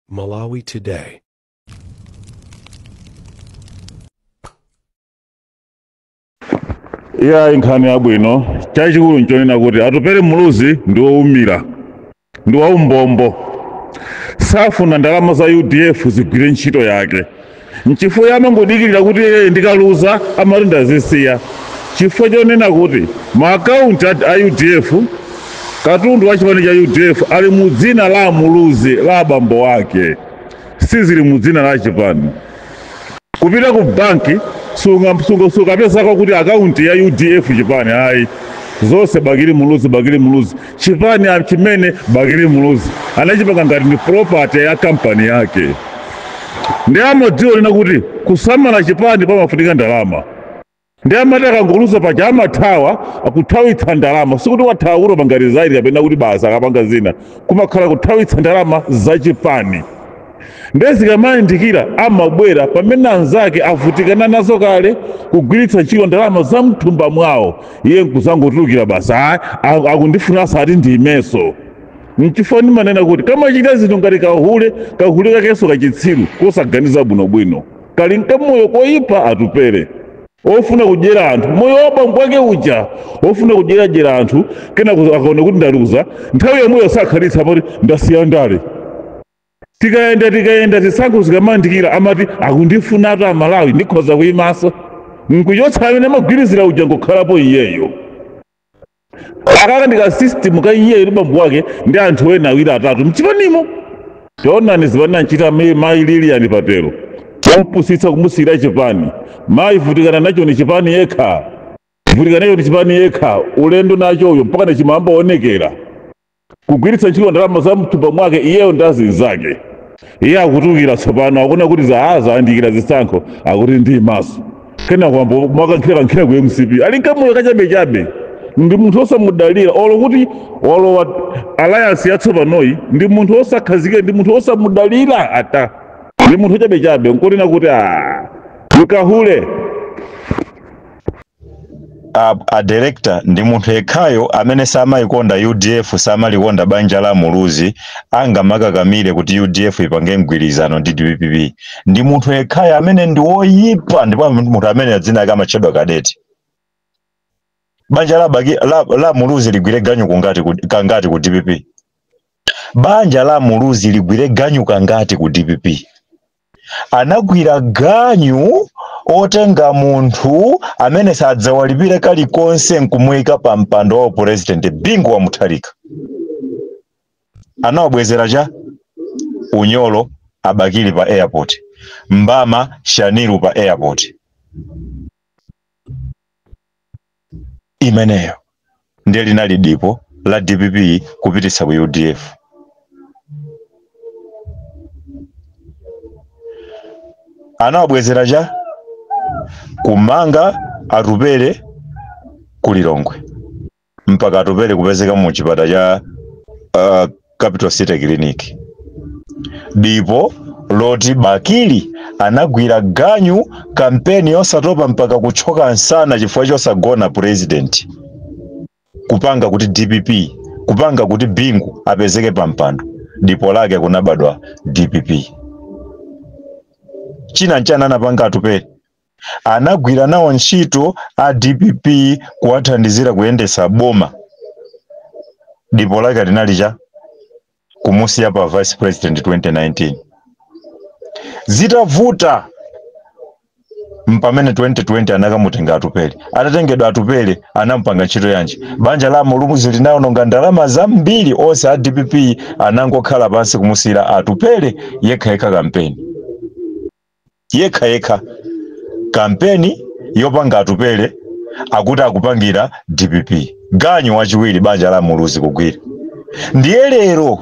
Malawi Today. iyayi nkhani yabwino chachikulu nchonena kuti atupere muluzi ndi woumira ndi waumbombo safuna ndalama za udf zigwire ntchito yake Nchifukwa iye amangodikirira kuti iye ndikaluza amati ndazisiya chifukwa chonena kuti ma account a, a udf katundu wa chipani cha udf ali mu dzina la amuluzi la abambo wake sizili mu dzina la chipani kupita ku banki sukapezako kuti akaunti ya udf chipani ayi zonse bakili muluzi bakili muluzi Chipani chimene Bakili Muluzi anachipanga ngati ndi property ya kampani yake, ndi amadziwa kunena kuti kusamala chipani pamafunika ndalama, ndi amati akangoluza paja amathawa kuthawitsa ndalama, sikuti wathawa kuti wapanga resign kapena kuti basi akapanga zina, kumakhala kuthawitsa ndalama za chipani. ndiye zikamayandikira amabwera pamene anzake avutikana nazo kale kugwiritsa ntchito ndalama za mthumba mwawo iye nkuzangotulukira basi ayi akundifuna ati ndiimenso nchifukwa ndimanena kuti kamachita zinthu ngati kahule kahule kakenso kachitsiru kosaganiza bwinobwino kali nkamoyo koyipa atupere ofuna kudyera anthu moyo wa bambo wake uja ofuna kudyeradyera anthu kena akaona kuti ndaluza nthawi yomweyo sakhalitsa amati ndasiya ndale tikayenda tikayenda zisankho zikamayandikira amati akundifunatu amalawi ndikhoza kuyimaso nkuchotsa amene amagwirizira uja nkukhalapo iyeyo akaka ndikasystem ka iyeyo ndi bambo wake ndi anthu ena awiri atatu mchipanimo taonani zimene anamchita mayi lilian patel kumpusitsa kumusiyira chipani mayi vutikana nacho ni chipani yekha vutikana nacho ni chipani yekha ulendo nachoyo mpaka nachiyamba kuonekera kugwiritsa ntchito ndalama za mthumba mwake iyeyo ndi azinzake iye akutulukira tsopano akuona kuti zayandikira zisankho akuti ndiimaso kenaka wayamba mwakankhirakankhira ku mcp ali nkamoyo kachabechabe ndi munthu osamudalira olo kuti walowa alliance yatsopanoyi ndi munthu osakhazikika ndi munthu osamudalira ata ndi munthu ochabechabe nkunena kuti nkahule a, a director ndi munthu yekhayo amene samayikonda udf samalikonda banja la muluzi angamakakamire kuti udf ipange mgwirizano ndi dpp ndi munthu yekhayo amene ndi woyipa ndipo munthu amene dzina lake amatchedwa kadeti banja la, baki, la, la muluzi ligwire ganyu kangati ku dpp banja la muluzi ligwire ganyu kangati ku dpp anagwira ganyu otenga munthu amene sadzawalipire kalikonse nkumuika pa mpando wa upurezidenti bingu wa mutharika anawabwezera cha unyolo a bakili pa airport mbama shaniru pa airport imeneyo ndiye linali dipo la dpp kupititsa ku udf anawabwezera cha kumanga atupere ku lilongwe mpaka atupere kupezeka mu chipata cha uh, capital city clinic dipo loti bakili anagwira ganyu kampeni yosatopa mpaka kutchoka nsana chifukwa chosagona president kupanga kuti dpp kupanga kuti bingu apezeke pampando dipo lake kunabadwa dpp china nchani anapanga atupere anagwira nawo ntchito a dpp kuwathandizira kuyendetsa boma dipo lake linali cha kumusiya pa vice president 2019 zitavuta mpamene 2020 anakamutenga atupere atatengedwa atupere anampanga ntchito yanji banja la muluzi linawononga ndalama zambiri onse a dpp anangokhala pansi kumusiyira atupere yekhayekha kampeni yekha yekha kampeni yopanga atupere akuti akupangira dpp ganyu wachiwiri banja la muluzi kugwira ndiye lero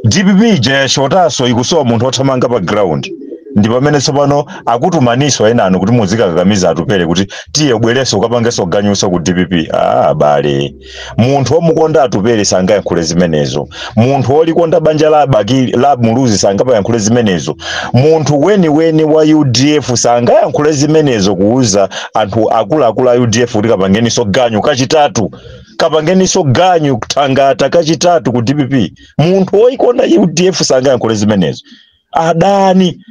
dpp ija yashotanso ikusowa munthu othamanga pa ground ndi pamene tsopano akutumaninso enanu kuti muzikakakamiza atupere kuti tiye ubwereso ukapangeso ganyuso ku dpp abale munthu womukonda atupere sangayankhule zimenezo munthu wolikonda banja la bakili la muluzi sangapayankhule zimenezo munthu weniweni wa udf sangayankhule zimenezo kuuza anthu akuluakulu a udf kuti kapangeniso ganyu kachitatu kapangeniso ganyu thangata kachitatu ku dpp munthu woyikonda udf sangayankhule zimenezo adani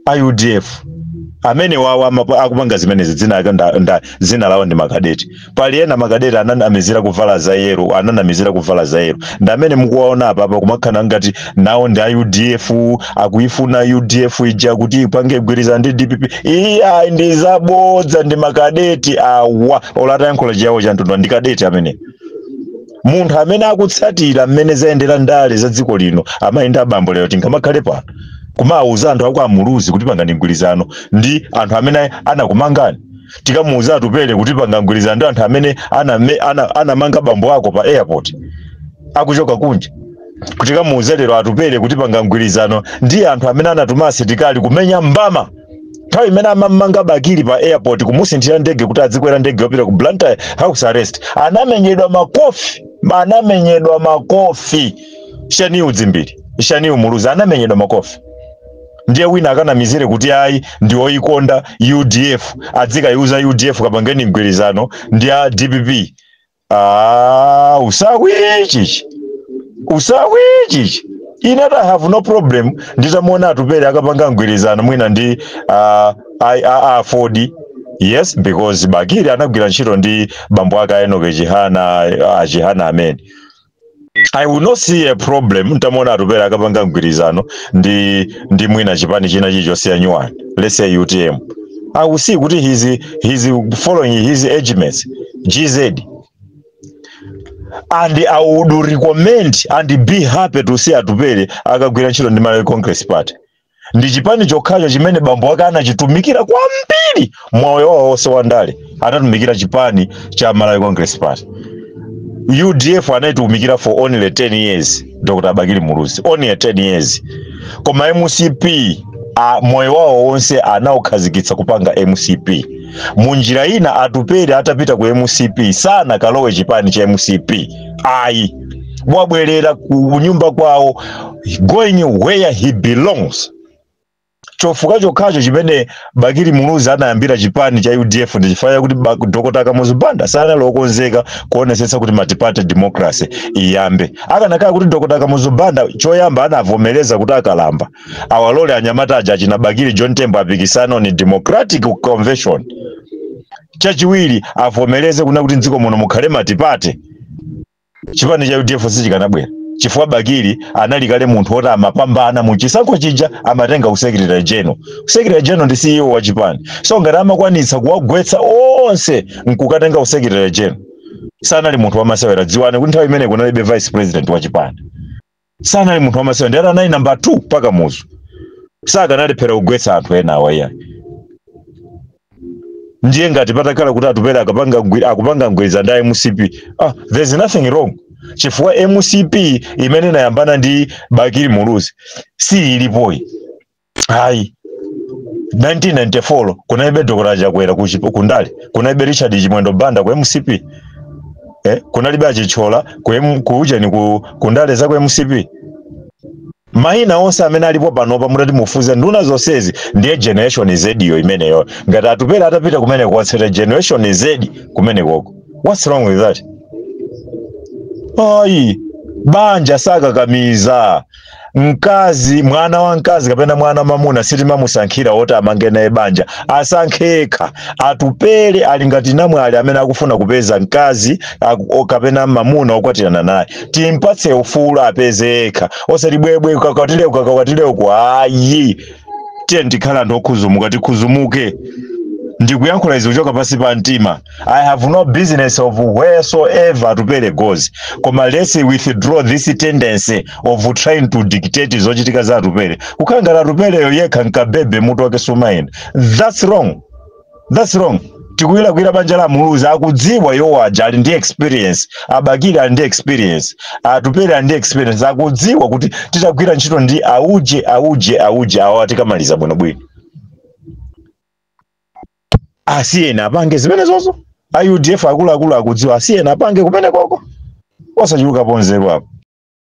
a udf amenewa awa amapa- akupanga zimenezi dzina lake nda- nda- dzina lawo ndi makadeti pali ena makadeti ananamizira kuvala za yero ananamizira kuvala za yero ndi amene mukuwaona apa apa kumakhala ngati nawo ndi a udf akuifuna udf ija kuti ipange mgwirizano ndi dpp iyi ayi ndi zabodza ndi makadeti awa olo atayankhula chiyawo cha mtundu ndi kadeti amene munthu amene akutsatira mmene zayendera ndale za dziko lino amayenda abambo lero tingamakhale pano kumawuza anthu akwa muluzi kuti pangani mgwirizano ndi anthu amene anakumangani tikamuwuze atupele kuti panga mgwirizano ndi anthu amene aname- ana- anamanga bambo ako pa airport akuchoka kunja tikamuwuze lero atupele kuti panga mgwirizano ndi anthu amene anatuma asilikali kumenya mbama nthawi imene amamanga bakili pa airport kumusinthira ndege kuti adzikwera ndege yopita ku blantyre house arrest anamenyedwa makofi anamenyedwa makofi shanil dzimbiri shanil muluzi anamenyedwa makofi ndiye wina akanamizire kuti ayi ndi oyikonda udf adzikaiuza udf kapangeni mgwirizano ndi a dpp Ah, usawi chichi usawi chichi ine i have no problem nditamuona atupele akapanga mgwirizano mwina ndi uh, aford yes because bakili anagwira ntchito ndi bambo ake a enoke chihana achihana amene i will not see a problem ntamuona atupele akapanga mgwirizano ndi ndi mwina chipani china chilichonse ya new one let's say utm i will see kuti he's, he's following his age mates gz and i would recommend and be happy to see atupele akagwira ntchito ndi malawi congress party ndi chipani chokhacho chimene bambo wake anachitumikira kwambiri moyo wawo wonse wa ndale anatumikira chipani cha malawi congress party udf anaitumikira for only 10 years dr bakili muluzi only 10 years koma mcp a, moyo wawo wonse anaukhazikitsa kupanga mcp munjira ina atupele atapita ku mcp sanakalowe chipani cha mcp ayi wabwerera ku nyumba kwawo going where he belongs chifukwa chokhacho chimene bakili muluzi anayambira chipani cha udf ndi chifukwa chakuti ba- dr kamuzu banda sanali okonzeka kuonesetsa kuti multiparty democracy iyambe akanakhala kuti dr kamuzu banda choyamba anavomereza kuti akalamba awalole anyamata aja achina bakili john tembo apikisane on democratic convention chachiwiri avomereze kuna kuti mdziko muno mukhale multiparty chipani cha udf sichikanabwera chifukwa bakili anali kale munthu woti amapambana mu chisankho chija amatenga usecretary general usecretary general ndi ceo wa chipani so ngati amakwanitsa kuwagwetsa onse nkukatenga usecretary general sanali munthu wamasewera dziwani kuti nthawi imeneyi kunalibe vice president wa chipani sanali munthu wamasewera ndiyeti anali namba 2 pa kamuzu sakanalephera kugwetsa anthu ena awa iyayi ndiye ngati patakhala kuti atupele akapanga mgwi- akupanga mgwirizano ndi a mcp ah, there's nothing wrong chifukwa mcp imene inayambana ndi bakili muluzi si ilipoyi ayi 1994 kunalibe dr chakwera ku chipo- ku ndale kunalibe richard chimwendo banda ku mcp eh, kunalibe a chitsulo ku M- ku ujeni ku, ku ndale za ku mcp maina onse amene alipo panopa mutati mufuze nduna zonsezi ndiye generation z yo imeneyo ngati atupele atapita kumeneko watsata generation z kumenekoko what's wrong with that ayi banja sakakamiza mkazi mwana wa mkazi kapena mwana wa mamuna sitimamusankhira woti amange naye banja asankhe yekha atupele ali ngati namwali amene akufuna kupeza mkazi aku- o- kapena mamuna okwatirana naye timpatse ufulu apeze yekha osati bwebwe ukakwatire uku ukakwatire uku ayi tiyeni tikhale anthu okhuzumuka tikhuzumuke ndikuyankhula izi kuchoka pansi pa mtima I have no business of wheresoever atupele goes. Koma let's withdraw this tendency of trying to dictate zochitika za atupele. Kukhala ngati atupeleyo yekha nkabwebwe mutu wake sumayenda. That's wrong. That's wrong. tikulirakulira banja la muluzi akudziwa iwo aja ali ndi experience abakili ali ndi experience atupele ali ndi experience akudziwa kuti titagwira ntchito ndi auje auje auje awa tikamaliza bwinobwino asiyeni apange zimenezozo a udf akuluakulu akudziwa asiyeni apange kumenekoko osachuluka nzeru apo